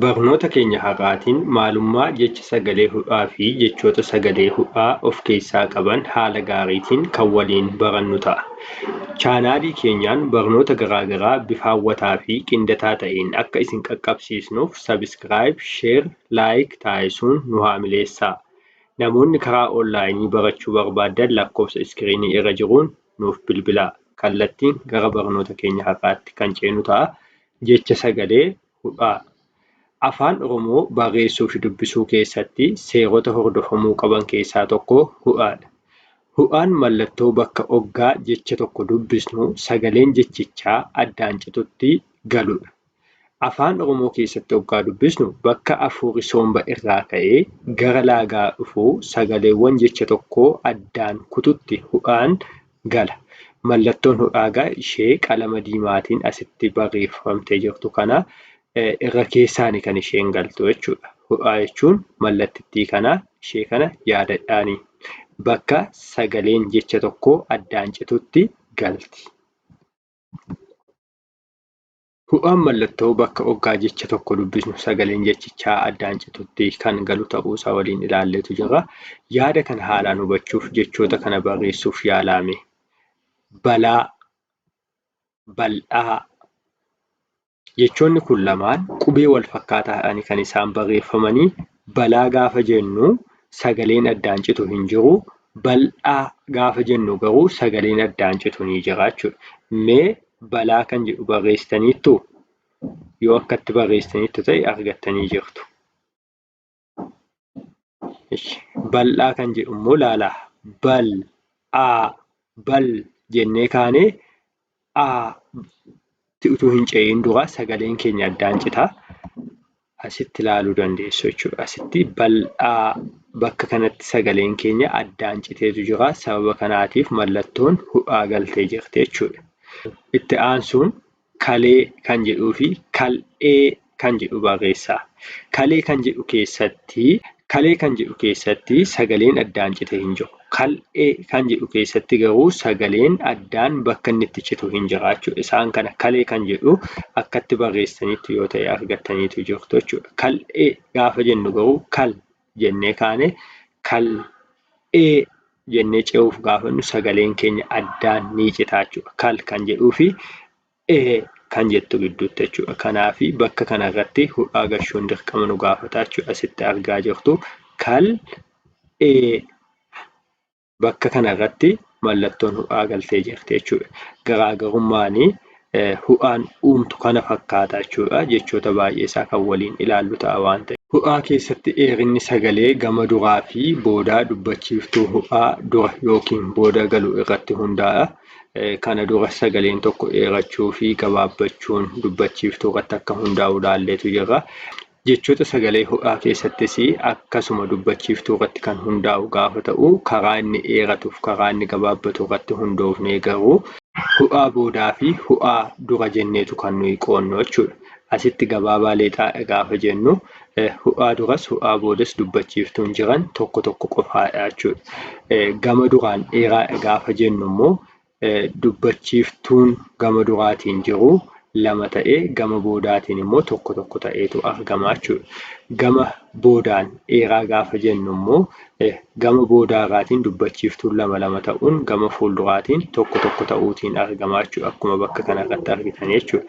Barnoota keenya har'aatiin maalummaa jecha sagalee hudhaa fi jechoota sagalee hudhaa of keessaa qaban haala gaariitiin kan waliin barannu ta'a. Chaanaalii keenyaan barnoota garaa garaa bifa hawwataa fi qindataa ta'een akka isin qaqqabsiisnuuf subscribe, share, like taasisuun nu haamileessaa. Namoonni karaa online barachuu barbaaddan lakkoofsa iskiriinii irra jiruun nuuf bilbilaa. Kallattiin gara barnoota keenya har'aatti kan ceenu ta'a. Jecha sagalee hudhaa Afaan Oromoo barreessuufi dubbisuu keessatti seerota hordofamuu qaban keessaa tokko hudhaadha. Hudhaan mallattoo bakka oggaa jecha tokko dubbisnu sagaleen jechichaa addaan citutti galudha. Afaan Oromoo keessatti oggaa dubbisnu bakka afuurri soomba irraa ka'ee gara laagaa dhufu sagaleewwan jecha tokkoo addaan kututti hudhaan gala. Mallattoon hudhaa egaa ishee qalama diimaatiin asitti barreeffamtee jirtu kana irra keessaani kan isheen galtu jechuudha. Hudhaa jechuun mallattittii kana ishee kana yaadadhaani. Bakka sagaleen jecha tokkoo addaan citutti galti. Hu'aan mallattoo bakka oggaa jecha tokko dubbisnu sagaleen jechichaa addaan citutti kan galu ta'uusaa waliin ilaalleetu jirra. Yaada kana haalaan hubachuuf jechoota kana barreessuuf yaalaa mee. Balaa, bal'aa. Jechoonni kun lamaan qubee walfakkaataa ta'anii kan isaan barreeffamanii Balaa gaafa jennu sagaleen addaan citu hin jiru. Bal'aa gaafa jennu garuu sagaleen addaan citu ni jira jechuudha. Mee balaa kan jedhu barreessitaniittuu? Yoo akkatti barreessitaniittu ta'e argattanii jirtu. Bal'aa kan jedhu immoo laala. Bal, aa, bal jennee kaanee tti utuu hin ce'iin dura sagaleen keenya addaan cita. Asitti ilaaluu dandeessu jechuudha. Asitti bal'aa bakka kanatti sagaleen keenya addaan citeetu jira. Sababa kanaatiif mallattoon hudhaa galtee jirti jechuudha. Itti aansuun kalee kan jedhuu fi kal'ee kan jedhu barreessaa. Kalee kan jedhu keessatti kalee kan jedhu keessatti sagaleen addaan cite hin jiru. Kal'ee kan jedhu keessatti garuu sagaleen addaan bakka inni itti citu hin jira jechuudha. Isaan kana kalee kan jedhu akkatti barreessaniitti yoo ta'e argattaniitu jirtu jechuudha. Kal'ee gaafa jennu garuu kal jennee kaane kal'ee jennee ce'uuf gaafannu sagaleen keenya addaan ni cita jechuudha. Kal kan jedhuu fi ee kan jettu gidduutti jechuudha. Kanaaf bakka kana irratti hudhaa gashuun dirqama nu gaafata jechuudha. Asitti argaa jirtu kal ee bakka kana irratti mallattoon hudhaa galtee jirti jechuudha. Garaagarummaan hudhaan uumtu kana fakkaata jechuudha. Jechoota baay'ee isaa kan waliin ilaallu ta'a waan ta'eef. Hudhaa keessatti dheerinni sagalee gama duraa fi boodaa dubbachiiftuu hudhaa dura yookiin booda galu irratti hundaa'a. Kana dura sagaleen tokko dheerachuu fi gabaabbachuun dubbachiiftuu irratti akka hundaa'u ilaalleetu jirra. Jechoota sagalee ho'aa keessattis akkasuma dubbachiiftuu irratti kan hundaa'u gaafa ta'u karaa inni dheeratuuf karaa inni gabaabbatu irratti hundoofnee garuu ho'aa boodaa fi ho'aa dura jenneetu kan nuyi qoonnu jechuudha. Asitti gabaabaa leexaadha gaafa jennu Hu'aa duras hu'aa boodas dubbachiiftuun jiran tokko tokko qofaadha jechuudha. Gama duraan dheeraadha gaafa jennu immoo dubbachiiftuun gama duraatiin jiru lama ta'ee gama boodaatiin immoo tokko tokko ta'eetu argama jechuudha. Gama boodaan dheeraa gaafa jennu immoo e. Gama boodaa irraatiin dubbachiiftuun lama lama ta'uun gama fuulduraatiin tokko tokko ta'uutiin argamaa jechuudha. Akkuma bakka kana irratti argitan jechuudha.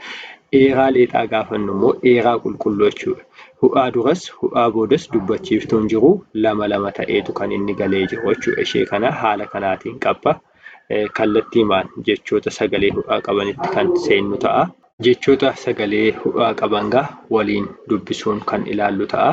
Eeraa leexaa gaafannu immoo eeraa qulqulluu jechuudha. Hu'aa duras hu'aa boodas dubbachiiftuun jiru lama lama ta'eetu kan inni galee jiru jechuudha. Ishee kana haala kanaatiin qabba. Kallattiimaan jechoota sagalee hu'aa qabanitti kan seennu ta'a. Jechoota sagalee hu'aa qaban gaa waliin dubbisuun kan ilaallu ta'a.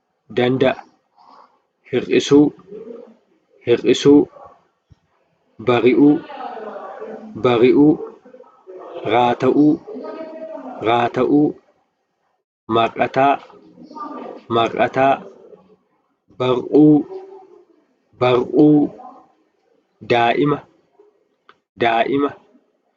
danda'a hir'isuu hir'isuu bari'uu bari'uu raata'uu raata'uu mar'ataa mar'ataa bar'uu bar'uu daa'ima daa'ima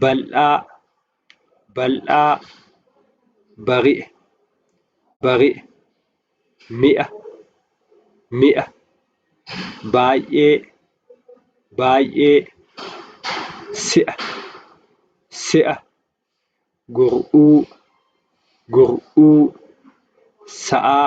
bal'aa bal'aa bari'e bari'e mi'a mi'a baay'ee baay'ee si'a si'a gur'uu gur'uu sa'aa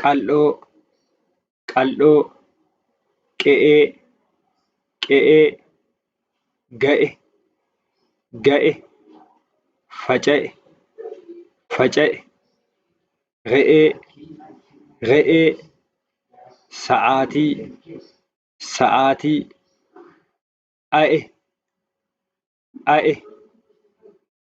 qal'oo qal'dhoo qe'ee qe'ee ga'e ga'e faca'e faca'e re'ee re'ee sa'aatii sa'aatii a'e a'e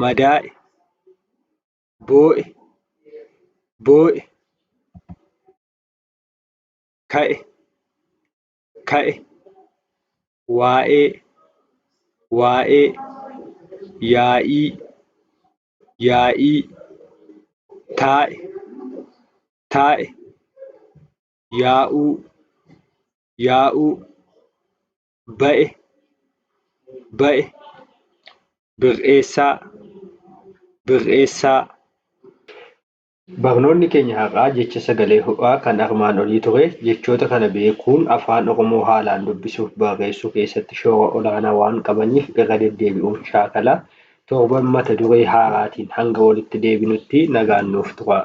madaa'e, boo'e, boo'e, ka'e, ka'e, waa'ee, waa'ee, yaa'ii, yaa'ii, taa'e, taa'e, yaa'uu, yaa'uu. ba'e, ba'e, bir'eessaa, bir'eessaa. Barnoonni keenya har'aa jecha sagalee ho'aa kan armaan olii ture. Jechoota kana beekuun Afaan Oromoo haalaan dubbisuuf barreessuu keessatti shoora olaanaa waan qabaniif irra deddeebi'uun shaakala. Torban mata duree haaraatiin hanga walitti deebinutti nagaan nuuf turaa.